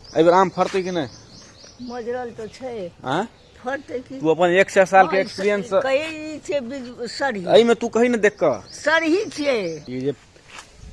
एहि बेर आम फड़तै कि नहि मजरल तऽ छै आँय फड़तै कि तू अपन एक सए साल के एक्सपीरियंस कही छै बीज- सरही एहि में तू कही ने देख कऽ सरही छियै ई जे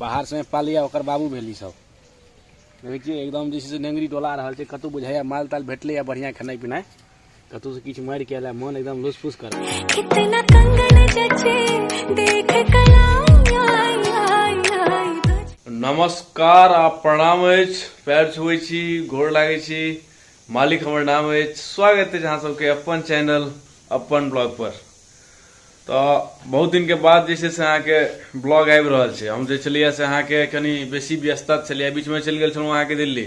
बाहर से पालिया ओकर बाबू भेली सब देखै छियै एकदम जे छै से नेंगरी डोला रहल छै कतौ बुझाइया माल ताल भेटलैया बढ़िया खेनाइ पिनाइ कतौ से किछ मार के आला मन एकदम लुसफुस कर कितना कंगन जचे देख कलाई आई आई आई तुझ नमस्कार आ प्रणाम अछि पैर छुए छी गोर लागै छी मालिक हमर नाम अछि स्वागत अछि अहाँ सबके अपन चैनल अपन ब्लॉग पर तऽ बहुत दिनके बाद जे छै से अहाँके ब्लॉग आबि रहल छै हम जे छलियै से अहाँके कनि बेसी व्यस्तता छलियै बीचमे चलि गेल छलहुँ अहाँके दिल्ली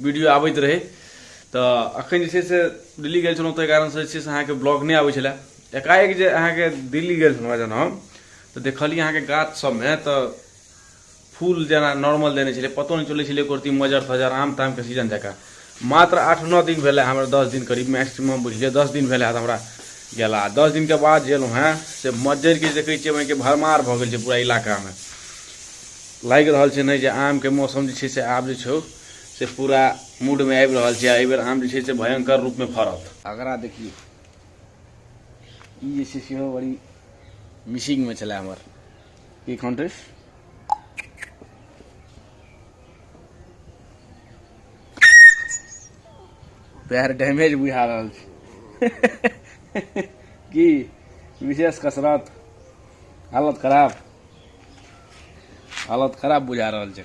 वीडियो आबैत रहै तऽ अखन जे छै से दिल्ली गेल छलहुँ ताहि कारणसँ जे छै से अहाँके ब्लॉग नहि आबै छलए एकाएक जे अहाँके दिल्ली गेल छलहुँ जहन हम तऽ देखलियै अहाँके गाछ सभमे तऽ फूल जेना नॉर्मल देने छलै पतो नहि चलै छलै कुर्ती मजर फजर आम तामके सीजन जकाँ मात्र आठ नओ दिन भेलै हमरा दस दिन करीब मैक्सिमम बुझलियै दस दिन भेलै हमरा गेला दस दिनके बाद जे एलहुँ हेँ से मज्जरिके देखै छियै ओहिके भरमार भऽ गेल छै पूरा इलाकामे लागि रहल छै नहि जे आमके मौसम जे छै से आब जे छै से पूरा मूड में आबि रहल छै एहि बेर आम जे छै से भयंकर रूप में फड़त अगरा देखिए ई जे छै सेहो बड़ी मिसिंग में छलै हमर की कॉन्ट्रेस पैर डैमेज बुझा रहल छै की विशेष कसरत हालत खराब हालत खराब बुझा रहल छै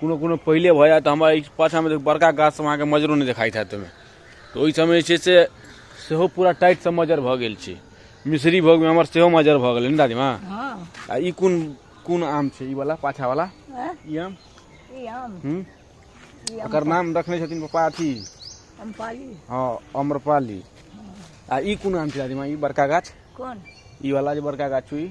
कोनो कोनो पहिले भऽ जायत तऽ हमरा ई पाछाँमे देखियौ बड़का गाछ सभ अहाँके मजरो नहि देखाइत होयत ओहिमे तऽ ओहि सभमे जे छै से सेहो पूरा टाइट सभ मज्जर भऽ गेल छै मिसरी भऽ गेल हमर सेहो मज्जर भऽ गेलै ने दादीमा हँ आ ई कोन कोन आम छै ई वाला पाछा वाला हँ, ई आम ई आम हूँ ई आम ओकर नाम रखने छथिन पप्पा अथी अम्पाली हँ अम्रपाली आ ई कोन आम छै दादीमा ई बड़का गाछ कोन ई वाला जे बड़का गाछ छै ई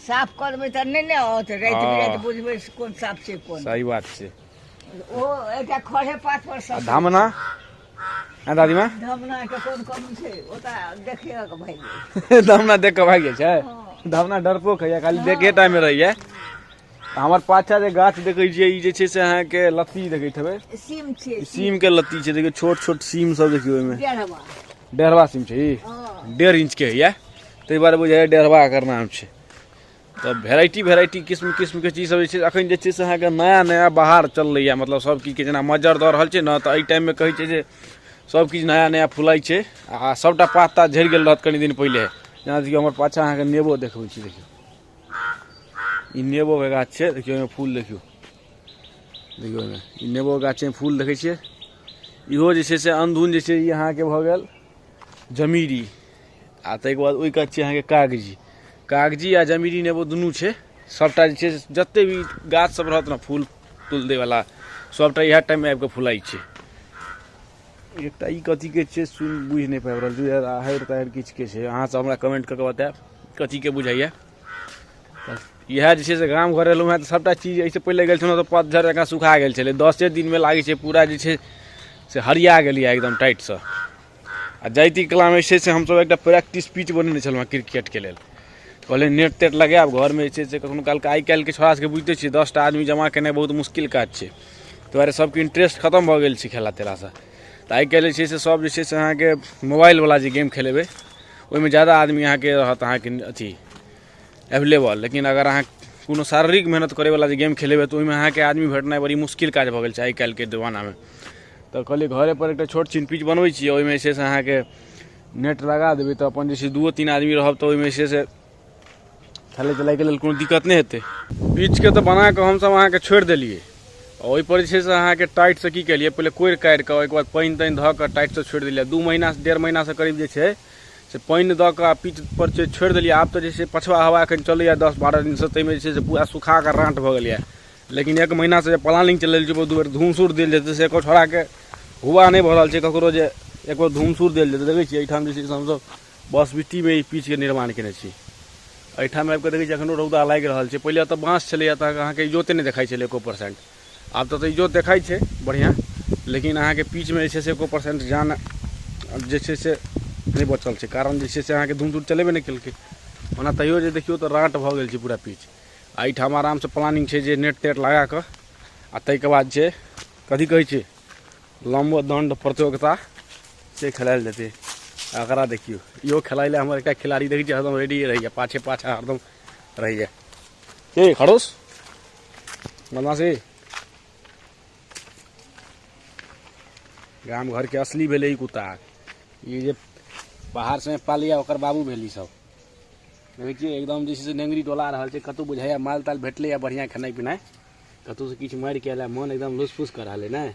साफ करबै तऽ नहि ने औत राति हँ। बिराति बुझबै से कोन साफ छै कोन सही बात छै ओ एकटा खड़े पात पर आ सब धामना हँ दादीमा धमना के कोन कम छै ओता देखिए के भाई धामना देख कऽ भागि जाइ छै धामना डरपोक होइए खाली देखे टाइममे रहैए तऽ हमर पाछा जे गाछ देखै छियै ई जे छै से अहाँके लत्ती देखैत हेबै सीम छै ई सीम के लत्ती छै देखियौ छोट छोट सीम सब देखियौ ओहिमे डेढ़वा डेढ़वा सीम छै ई हँ डेढ़ इंच के होइए ताहि दुआरे बुझाइए डेढ़बा एकर नाम छै तऽ भेराइटी भेराइटी किस्म किस्मके चीजसब जे छै एखन जे छै से अहाँके नया नया बाहर चललैए मतलब सब किछुके जेना मज्जर दऽ रहल छै ने तऽ एहि टाइममे कहै छै जे सब किछु नया नया फुलाइ छै आ सबटा पात तात झड़ि गेल रहत कनि दिन पहिले जेना देखियौ हमर पाछा अहाँके नेबो देखबै छी देखियौ ई नेबोके गाछ छै देखियौ ओहिमे फूल देखियौ देखियौ ओहिमे ई नेबोके गाछमे फूल देखै छियै इहो जे छै से अनधुन जे छै ई अहाँके भऽ गेल जमीरी आ ताहिके बाद ओहि कात छै अहाँके कागजी कागजी आ जमीरी नेबो दुनू छै सभटा जे छै जतेक भी गाछसभ रहत ने फूल तूल दैवला सभटा इएह टाइममे आबि कऽ फुलाइ छै एकटा ई कथीके छै सुन बुझि नहि पाबि रहल छै आहरि ताहरि किछुके छै अहाँसभ हमरा कमेंट कऽ कऽ बतायब कथीके बुझाइए इएह जे छै से गाम घर एलहुँ हेँ तऽ सभटा चीज एहिसँ पहिले गेल छलहुँ तऽ पतझड़ जकाँ सुखा गेल छलै दसे दिनमे लागै छै पूरा जे छै से हरिया गेलियै एकदम टाइटसँ आ जाइती कलामे जे छै से हमसभ एकटा प्रैक्टिस पिच बनेने छलहुँ हेँ क्रिकेटके लेल कहलियै नेट तेट लगायब घरमे जे छै से कखनो कालके आइ काल्हिके छोड़ा सभके बुझिते छियै दस टा आदमी जमा केनाइ बहुत मुश्किल काज छै ताहि दुआरे सभके इंटरेस्ट खतम भऽ गेल छै खेला तेलासँ तऽ आइ काल्हि जे छै से सभ जे छै से अहाँके मोबाइलवला जे गेम खेलेबै ओहिमे ज्यादा आदमी अहाँके रहत अहाँके अथि एवलेबल लेकिन अगर अहाँ कोनो शारीरिक मेहनत करैवला जे गेम खेलेबै तऽ ओहिमे अहाँके आदमी भेटनाइ बड़ी मुश्किल काज भऽ गेल छै आइ काल्हिके जमानामे तऽ कहलिए घरेपर एकटा छोट छिन पिच बनबै छिए ओहिमे जे छै से अहाँके नेट लगा देबै तऽ अपन जे छै दुओ तीन आदमी रहब तऽ ओहिमे जे छै से खेलै तेलैके लेल कोनो दिक्कत नहि हेतै पिचके तऽ बनाकऽ हमसब अहाँके छोड़ि देलिए ओहिपर जे छै से अहाँके टाइटसँ की केलिए पहिले कोड़ि काड़िकऽ ओहिके बाद पानि तानि धऽ कऽ टाइटसँ छोड़ि देलिए दुइ महिनासँ डेढ़ महिनासँ करीब जे छै से पानि दऽ कऽ आ पीठ पर छै छोड़ि देलियै आब तऽ जे छै पछवा हवा एखन चलैए दस बारह दिनसँ ताहिमे जे छै से पूरा सुखा कऽ राँट भऽ गेल यए लेकिन एक महीनासँ जे प्लानिंग चलि रहल छै बहुत बेर धूमसूर देल जेतै से एको छोड़ाके हुआ नहि भऽ रहल छै ककरो जे एको धूमसूर देल जेतै देखै छियै एहिठाम जे छै से हमसभ बस बिट्टीमे ई पीचके निर्माण कयने छी एहिठाम आबि कऽ देखै छियै एखनो रौदा लागि रहल छै पहिले एतय बाँस छलैए तऽ अहाँके इजोते नहि देखाइ छलै एको परसेंट आब तऽ इजोत देखाइ छै बढ़िआँ लेकिन अहाँके पीचमे जे छै से एको परसेंट जान जे छै से नहि बचल छै कारण जे छै से अहाँके धूम धूर चलेबे नहि केलकै ओना तैयो जे देखियौ तऽ राँट भऽ गेल छै पूरा पीच आ एहिठाम आरामसँ प्लानिंग छै जे नेट तेट लगा कऽ आ ताहिके बाद छै कथी कहै छै लम्बो दण्ड प्रतियोगिता से खेलायल जेतै एकरा देखियौ इहो खेलाइ लए हमर एकटा खिलाड़ी देखै छियै हरदम रेडी रहैए पाछे पाछा हरदम रहैए के खड़ोस बदमाशी गाम घरके असली भेलै ई कुत्ता ई जे बाहरसँ पालैए ओकर बाबू भेल ईसभ देखै छियै एकदम जे छै से नेंगरी डोला रहल छै कतहु बुझाइए माल ताल भेटलैए बढ़िआँ खेनाइ पिनाइ कतहुसँ किछु मारि कऽ एलै मोन एकदम लुसफुस कऽ रहल अइ नहि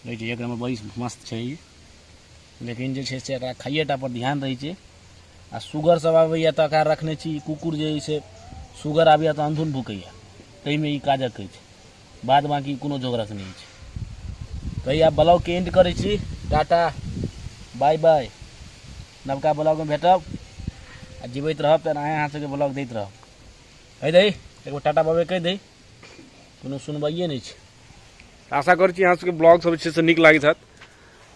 रहै छै एक नम्बर बड़ी मस्त छै ई लेकिन जे छै से एकरा खाइएटा पर ध्यान रहै छै आ सुगर सब आबैए तऽ एकरा रखने छी कुकुर जे अइ से सुगर आबैए तऽ अन्धुन भुकैए ताहिमे ई काजक अछि बाद बाँकी कोनो जोगरक नहि अछि तऽ आब ब्लॉगके एंड करै छी टाटा बाय बाय नवका ब्लॉगमे भेटब आ जीवैत रहब तऽ अहाँ अहाँ सबके ब्लॉग दैत रहब कहि दही एगो टाटा बाबे कहि दही कोनो सुनबाइए नहि छै आशा कर छी सबके ब्लॉग सब अच्छे से निक लागत हत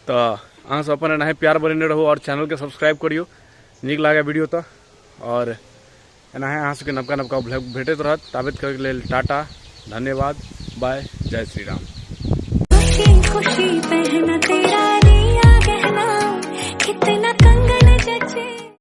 तो अहाँ सब अपन एनाहे प्यार बने रहू और चैनल के सब्सक्राइब करियो निक लागे वीडियो तो और एनाहे अहाँ सबके नबका नबका ब्लॉग भेटत रहत ताबत करके लेल टाटा धन्यवाद बाय जय श्री राम खुशी पहना तेरा रिया गहना कितना कंगन जचे